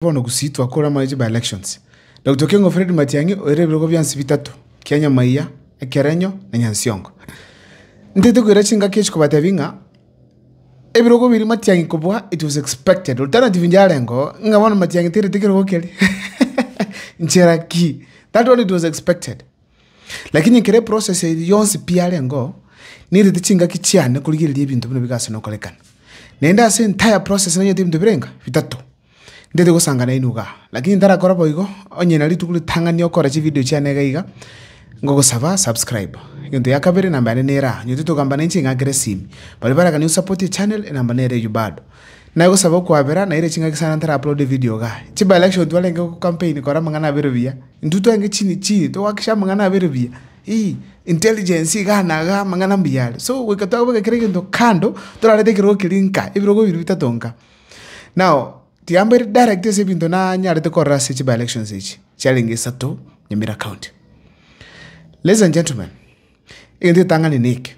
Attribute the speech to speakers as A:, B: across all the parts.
A: Bono gusii twakore amache by elections. Doctor Keng'o Fred Matiang'i oere ebirogo biansi bitato, Kianyamaiya, Ekerenyo, na Nyansiongo. Ntaete koira chingaki echi kobatebi ng'a ebirogo biria Matiang'i kobua it was expected. Alternative nyarengo ng'a bono Matiang'i tairete kerogo keria. Nchera ki? That one it was expected. Lakini ekero eprocess eria yonsi pi yarengeo, nairete chingaki chiane korigereria ebinto buna bigase nokorekana. Naende ase entire process nanyete ebinto birenga? Bitato. Ndete gosanga nainwe iga, lakini ntarakora boigo, onye na rituko ritang'ani okora chividio chiane iga iga, ngogosaba subscribe. Egento gia kabere, enamba yane nere aa, nyotete ogamba nainche ing'akera esimi. Baria baragani osapotie echannel, enamba nere eyio bado. Naye gosaba okwabera, naira ching'aki sana ntara uploade evidio iga. Chiba election twarenge gocampaign kora amang'ana abere buya, intwe twarenge chini chini togoakikisha amang'ana abere buya, ii, intelligence igaa na igaa amang'ana mbuya are. So goika twabeka kera egento kando, torarete ekerogo keria nka, ebirogo biri bitato nka. Now, tiambe ere direct ase ebinto nanyarete korora ase chi by-elections echi, chiarenge isato Nyamira County. Ladies and gentlemen, egento getang'ani neke,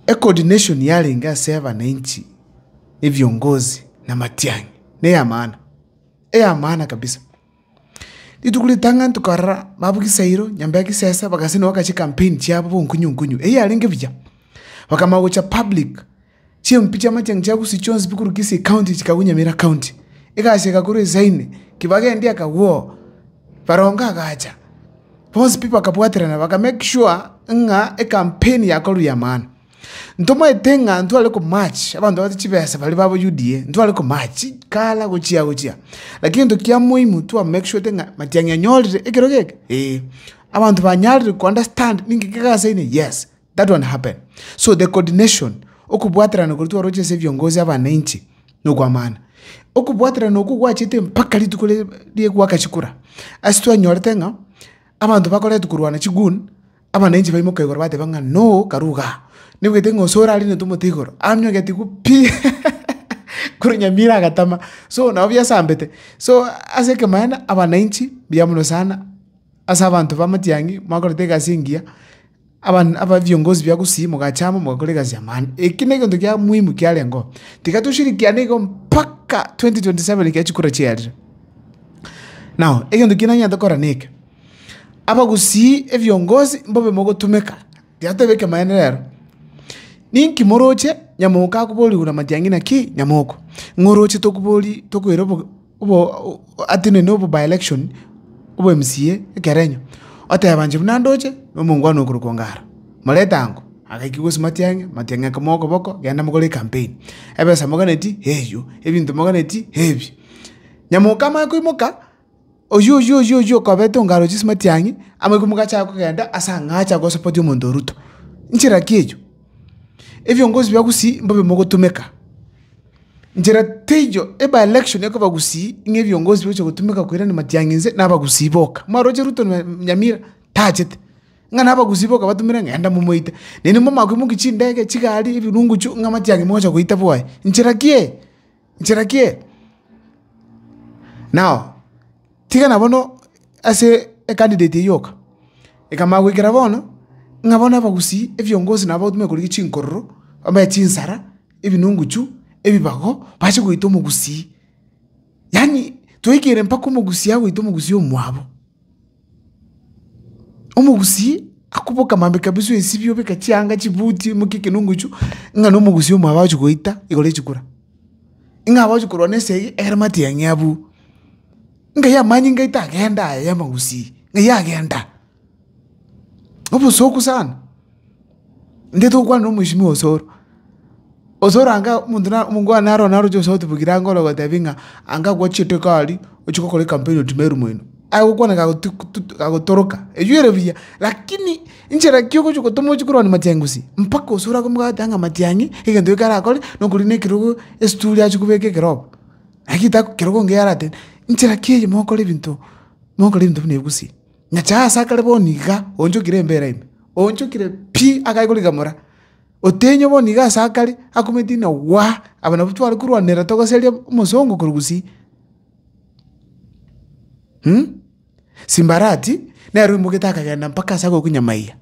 A: ecoordination yarenge ase abananchi, ebiongozi, namatiang'i, neyamaana, eyamaana kabisa. Rituko ritang'ani tokarora, babu Kisairo, Nyambea Kisese, bagasendwa bagacha chikampeni chiabo bonkunyu nkunyu, eyio yarenge buya, bakamanya gocha public, chimpi chia amachang'ani chia Gusii chionsi pi korwa Kisii county chikagwa Nyamira county, egasi egakorwa esaine, kibagendi akagwoo, Barongo agacha, bonsi pi bakabwaterana baka make sure ng'a ekampeni yakorwa ya maana. Ntomaete ng'a ntware komaache abanto babate chibesa baria babo UDA, ntware komaache chikara gochia gochia. Lakini egento kia moimu twa make sure te ng'a matiang'i anyorire ekero geke? Ee. Abanto banyarire ko understand ninki kegasaine? Yes, that one happen. So the coordination, okobwaterana koria twaroche ase viongozi abananchi na okwamana. Okobwaterana okwo gwachete mpaka rituko ri ria gwakachikura. Ase twanyorete ng'a abanto bakoretwe korwana chigun. Abananchi baimoka igoro bateba ng'a noo karuo gaa. Nebwete ng'a ose orare ne tomote igoro amye ogetigwa pii korwa nyamira agatama so nabo biasambete. So ase ekemanyererio abananchi mbuya mono sana ase abanto ba matiang'i mwakorete egasi engiya aban aba viongozi bia gusii mogacha amo mogakora egasi ya maana. Eki negento kia muhimu kiarengeo tiga toshirikiane igo mpaka twenty twenty seven ekiagera chikura chiarire. Now egento kiria nanyarete gokora neke. Abagusii ebiongozi mbobe mogotumeka, tiateba ekemanyereero. Ninki moroche nyamoko akobori igoro namatiang'ina ki nyamoko? Ng'a oroche tokobori tokoira obo obo atenene obo by election obo MCA ekerenyo, oteba inche buna ndoche na omongwana okorokwa Ongara. Moreta ango, agaika gose matiang'e, matiang'e akomoa okoboko genda mogore ecampaign. Ebesa moganeti eywo, ebinto moganeti ebi. Nyamoko amanye koimoka. oyio, oyio, oyio, oyio okobete ongaro chisimatiang'i, amariko mogachaka kogenda ase ang'aa acha gosopotia omonto o Ruto. Nchera ki eyio? Ebiongozi bia gusii mbobe mogotumeka. Nchera teiyo e by election ekoba gusii ng'a ebiongozi bigocha gotumeka koirani matiang'i nse na abagusii boka. Mwaroche Ruto na Nyamira tachete, ng'a na abagusii boka batumire ng'enda momoite. Nainwe mbwamanya koimokia chindege, chigari, ebirunguchu ng'a matiang'i mogocha goita bwoye. Nchera ki eye? nchera ki eye? Nao tigana bono ase ecandidate eyio yoka, ekamanya goikera bono, ng'a bono abagusii ebiongozi nabo bagotumeka korigia chinkororo, bamanye chinsara, ebinunguchu, ebibago, bache goita omogusii. Yaani, twaikire mpaka omogusii agoita omogusii omwabo. Omogusii akoboka maambia kabisa oesibie obeke chianga chibuti omokie ekenungu echio ng'a na omogusii omwabo agochia goita igoro ya chikura. Ng'a agochia korwa na esegi egere matiang'i abwo. Ngai amanye ngaita agenda aye ya amagusii, ng'ai agenda. Obosuku sana. Intwe tokwana nomoisinwa osoro, osoro anga omonto na omonto one naro naroche gose otubugire ango ore gotebi ng'a anga gwa chiteko aria, ochia gokora ecampaign otime erumo ino, aye gokwana kago tu tu kagotoroka, eywo ere buya, lakini inche naki ogochia gotoma ochia korwania machengusi, mpaka osoro akomobwate ang'a matiang'i, egento ekio karakore, nokorwa na ekerogo esituri achia kobeka ekerogo, naki tako kerogo engiya aratebe, inche naki eye mokora ebinto, mokora ebinto buna egusi. Nyasae aase akare bono iga onchokire embeera ime, onchokire pi akae korigamora, otenywa bono iga aase akare, akumeti ng'a waa, aba nabwo tware korwanera togoseria omosongo korwa gusii Simbarati, nere oimogete akagenda mpaka ase agokunyamaiyia.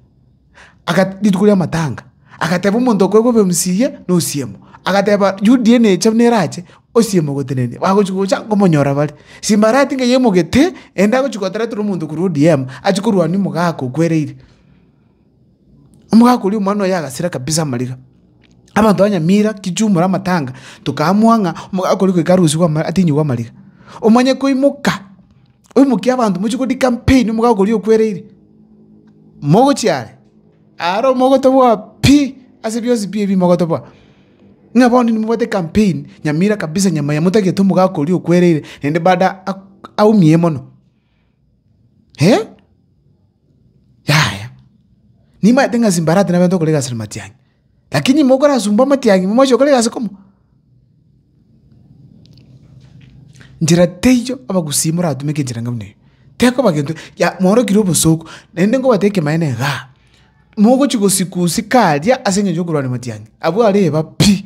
A: rituko ri'amatanga, agateba omonto okorokwa obemsi iye nosiemo, agateba UDA necha buna erache, osiemo ogotenenia, bagochia gocha nkomonyora bare. Simba aria atinga ye omogete, ende agochia gotaretera omonto korwa ODM, achie korwania omogaka okwereire. Omogaka oria omwana oye agasira kabisa amariga. Abanto ba Nyamira, Kisumu ore amatanga, tokaamua ng'a omogaka oria goika arusigwe ama atinyigwe amariga. Omanye koimoka. Oimokie abanto mochie go dikampeni omogaoko oria okwereire, mogochia are, are omogotoboa pi ase bionsi pi ebi mogotoboa. Ng'a bono nimobwate ekampeni nyamira kabisa nyama yamotagete omogaoko oria okwereire naende baada aumie mono. Yaya, nimaete ng'a simbarata nabe ntokora egasi na matiang'i. Lakini inwe mokorasumba amatiangi imwe mwachia gokora egasi koma? Njera teiyo abagusii moratumeke enchera enga buna eyio, tekoba gento ya mworokire obosooku, naende nkobatebia ekemanyeto igaa, mogochia gosikuusika aria ase engencho yokorwania amatiangi, abwo areba pi.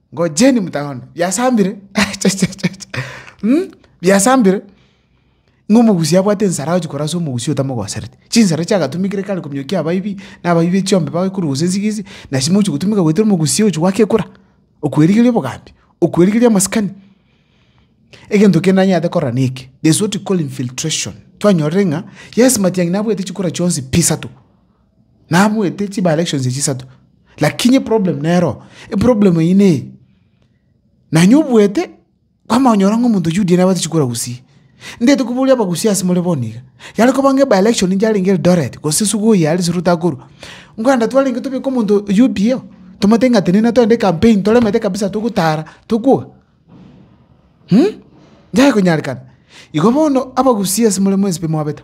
A: Ngojeni motagone, biasambire, achachachacha, um, biasambire, ng'a omogusi abwate ensara agochia korasa omogusi otamogosereti. Chinsara chiagatumekire kare kominyokia abaibi, na abaibi echiombe bagekorugusa ensigo echi, nasi mogochia gotumeka goetera omogusi ogochia goaka ekura, okwerigeria obogambi, okwerigeria amasikani. Egento kende nanyarete korora neke, there's what we call infiltration, twanyorire ng'a, yes, matiang'i nabwate chikura chionsi pi isato, Nabuete chiba elections echi isato lakini eproblem nero, eproblem eyio neye, nonye obuete kwamanya konyora ng'a omonto oyio UDA nabatechi kura gusii. Ndeti koboria abagusii ase more bono iga, yare koba ng'a eba election inche yarenge Eldoret gose Sugoi aria ase Rutakurwa, nkogenda twarenge tobeke omonto UPA oo, tomotebi ng'a tenena togende campaign toremete kabisa togotara tokwoka mh, nyaye konyarekana. Igo bono abagusii ase more mwensipe mwabete.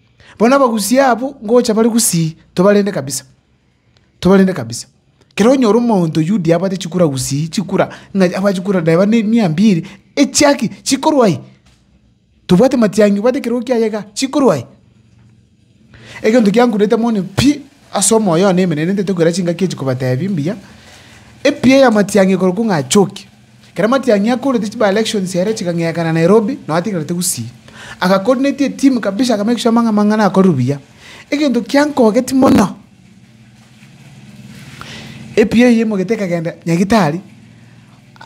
A: Bono abagusii abwo ngocha bare gusii tobarende kabisa, tobarende kabisa. Ekero onyora omonto oyundi abwate chikura gusii, chikura ng'a abwate chikura reba ne mia mbiri, echia ki? Chikorwa aye. Tobwati matiang'i obwate ekerogo kiaye igaa, chikorwa aye. Egento kiankururete mono pi ase omoyo one emerero ntaete koira chingaki echi kobatebi mbuya, epiya ya matiang'i ekorokwa ng'a achoki. Ekero Matiang'i akorete chi by-election chiaye chikang'eekana Nairobi, nao atigarete gusii. Agacoordinate etimu kabisa aka make sure amang'a amang'ana akorerwe buya. Egento kiankogeti mono, epiyo eye emogete ekagenda Nyagitari,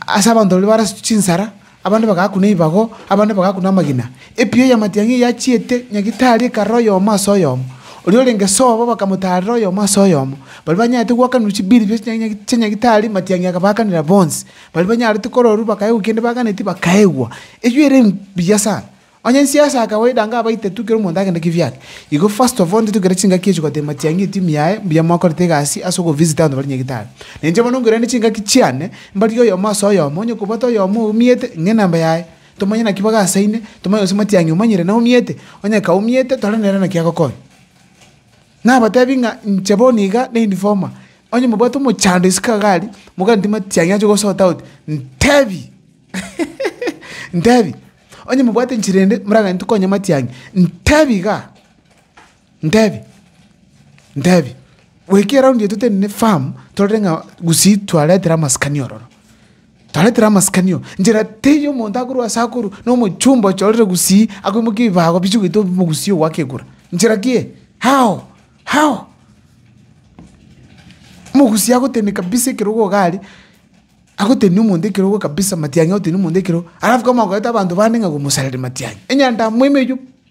A: ase abanto baria barasitwe chinsara, abande bagakuna ebibago, abande bagakuna amagina. Epiyo y'amatiang'i eyio achiete Nyagitari ekarora oyomo ase oyomo, oria orenge sobo bakamotaarera oyomo ase oyomo. Baria banyarete goakanirwa chibiri bia chinyagitari chia Nyagitari matiang'i akabaakanera bonsi. Baria banyarete kororwa bakaegwa kende baganetie bakaegwa. Eyio ere mbuya sana. Onye inse ase akawaida iga abaiteti kera omonto agende kibiake. Igo first of all intwe togere chingaki echi goteba matiang'i etimu yaye mbuya mwakorete egasi ase ogo visit abanto baria Nyagitari. Na inche bono nkorende chingaki chiane mbarigie oyomo ase oyomo onye kobwate oyomo oumiete ng'e enamba yaye. Tomanye naki bagasaine, tomanye gose matiang'i omanyire naumiete, onye kaumiete tore nere naki agokonya. Nabatebi ng'a inche bono iga na informer, onye mobwate omochando isiko iga aria, moganeti matiang'i ache gosort out, ntebi ntebi, onye mobwate enchera ende moraganeti konya matiang'i, ntebi igaa. Ntebi, ntebi, goika eraundi yaito tende ne firm, torore ng'a gusii twaretire amasikani ororo, twaretire amasikani ororo, nchera teiyo omonto akorwa ase akorwa na omochumba ocha orire gusii akoimokia ebibago bichia goita obimo gusii ogoaka ekura, nchera ki eye? How? How? Omogusii agotenenia kabisa ekerogo iga aria, agoteneni omonto ekerogo kabisa matiang'i agoteneni omonto ekerogo, alafu kamo akoete abanto bande ng'a gomosarere matiang'i, enyanda moime eywo.